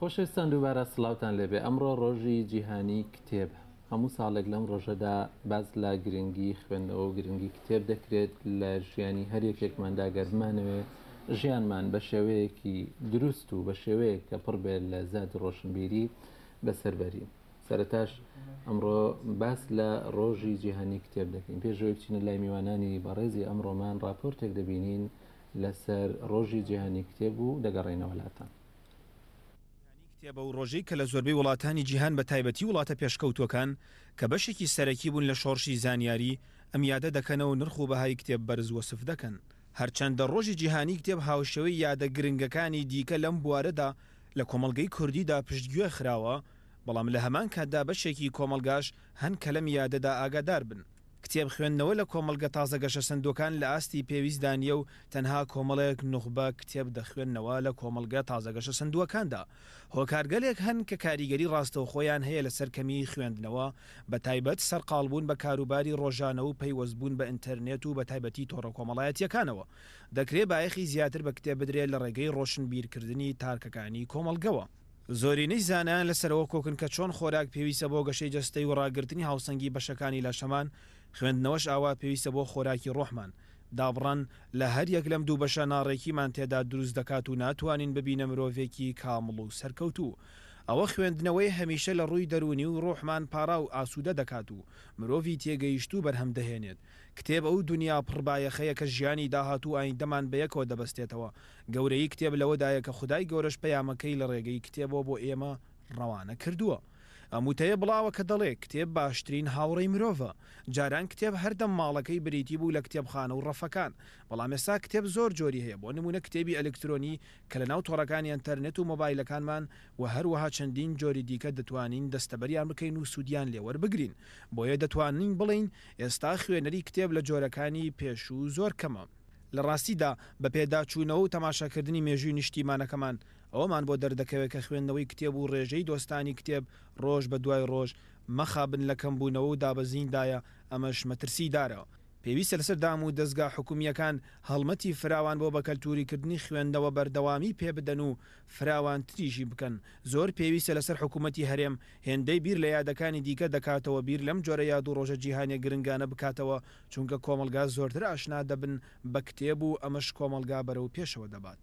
خۆشەویستان دووبارە سڵاوتان لێبێ ئەمڕۆ ڕۆژی جیهانی کتێبە هەموو ساڵێک لەم ڕۆژەدا باس لە گرنگی خوێندنەوە و گرنگی کتێب دەکرێت لە ژیانی هەر یەکێکماندا گەرمانەوێ ژیانمان بە شێوەیەکی دروست و بە شێوەیەک کە پڕ بێت لە زیاد ڕۆشنبیری بەسەربەری سەرتاش ئەمڕۆ باس لە ڕۆژی جیهانی کتێب دەکەین پێشەوەی بچینە لای میوانانی بەڕێزی ئەمڕۆمان راپۆرتێک دەبینین لەسەر ڕۆژی جیهانی کتێب و دەگەڕێینەوە لاتان. کتێبە و ڕۆژەی کە لە زۆربەی وڵاتانی جیهان بە تایبەتی وڵاتە پێشکەوتووەکان کە بەشێکی سەرەکی بوون لە شۆڕشی زانیاری، ئەم یادە دەکەنەوە نرخ و بەهای کتێب بەرز وەسف دەکەن. هەرچەندە ڕۆژی جیهانی کتێب هاوشێوەی یادە گرنگەکانی دیکە لەم بوارەدا لە کۆمەڵگەی کوردیدا پشتگوێ خراوە، بەڵام لە هەمان کاتدا بەشێکی کۆمەڵگاش هەن کە لەم یادەدا ئاگادار بن. کتێب خوێندنەوە لە کۆمەڵگە تازە گەشەسەندووەکان لە ئاستی پێویستدا نییە و تەنها کۆمەڵێک نوخبە کتێب دەخوێننەوە لە کۆمەڵگە تازە گەشەسەندووەکاندا هۆکارگەلێک هەن کە کاریگەری ڕاستەوخۆیان هەیە لەسەر کەمیی خوێندنەوە بە تایبەت سەرقاڵبوون بە کاروباری ڕۆژانە و پەیوەستبوون بە ئینتەرنێت و بە تایبەتی تۆڕە کۆمەڵایەتییەکانەوە دەکرێ بایەخی زیاتر بە کتێب بدرێ لە ڕێگەی ڕۆشنبیرکردنی تارکەکانی کۆمەڵگەوە. زۆرینەی زانایان لەسەرەوە کۆکن کە چۆن خۆراک پێویستە بۆ گەشەی جەستەی و ڕاگرتنی هاوسەنگی بەشەکانی لاشەمان، خوێندنەوەش ئاوا پێویستە بۆ خۆراکی ڕۆحمان. دابڕان لە هەریەک لەم دوو بەشە ناڕێکیمان تێدا دروست دەکات و ناتوانین ببینە مرۆڤێکی کامڵ و سەرکەوتوو. ئەوە خوێندنەوەی هەمیشە لە ڕووی دەروونی و ڕۆحمان پاراو ئاسوودە دەکات و مرۆڤی تێگەیشتوو بەرهەم دەهێنێت. کتێب ئەو دونیا پڕ بایەخەیە کە ژیانی داهاتوو و ئایندەمان بە یەکەوە دەبەستێتەوە. گەورەیی کتێب لەوەدایە کە خودای گەورەش پەیامەکەی لە ڕێگەی کتێبەوە بۆ ئێمە ڕەوانە کردووە. ئەم وتەیە بڵاوە کە دەڵێ، کتێب باشترین هاوڕێی مرۆڤە. جاران کتێب هەردەم ماڵەکەی بریتی بوو لە کتێبخانە و ڕەفەکان. بەڵام ئێستا کتێب زۆر جۆری هەیە، بۆ نموونە کتێبی ئەلکترۆنی کە لەناو تۆڕەکانی ئەنتەرنێت و مۆبایلەکانمان و هەروەها چەندین جۆری دیکە دەتوانین دەستەبەریان بکەین و سوودیان لێ وەربگرین. بۆیە دەتوانین بڵێین، ئێستا خوێنەری کتێب لە جۆرەکانی پێشوو زۆر کەمە. لە ڕاستیدا بە پێداچوونەوە و تەماشاکردنی مێژووی نیشتیمانەکەمان، ئەوەمان بۆ دەردەکەوێت کە خوێندنەوەی کتێب و ڕێژەی دۆستانی کتێب ڕۆژ بە دوای ڕۆژ مەخابن لە کەمبوونەوە و دابەزیندایە، ئەمەش مەترسیدارە. پێویستە لەسەر دام و دەزگا حکومییەکان هەڵمەتی فراوان بۆ بەکەلتوریکردنی خوێندنەوە بەردەوامی پێبدەن و فراوانتریشی بکەن. زۆر پێویستە لەسەر حکومەتی هەرێم هێندەی بیر لە یادەکانی دیکە دەکاتەوە بیر لەم جۆرە یاد و ڕۆژە جیهانیە گرنگانە بکاتەوە چونکە کۆمەڵگا زۆرتر ئاشنا دەبن بە کتێب و ئەمەش کۆمەڵگا بەرەو پێشەوە دەبات.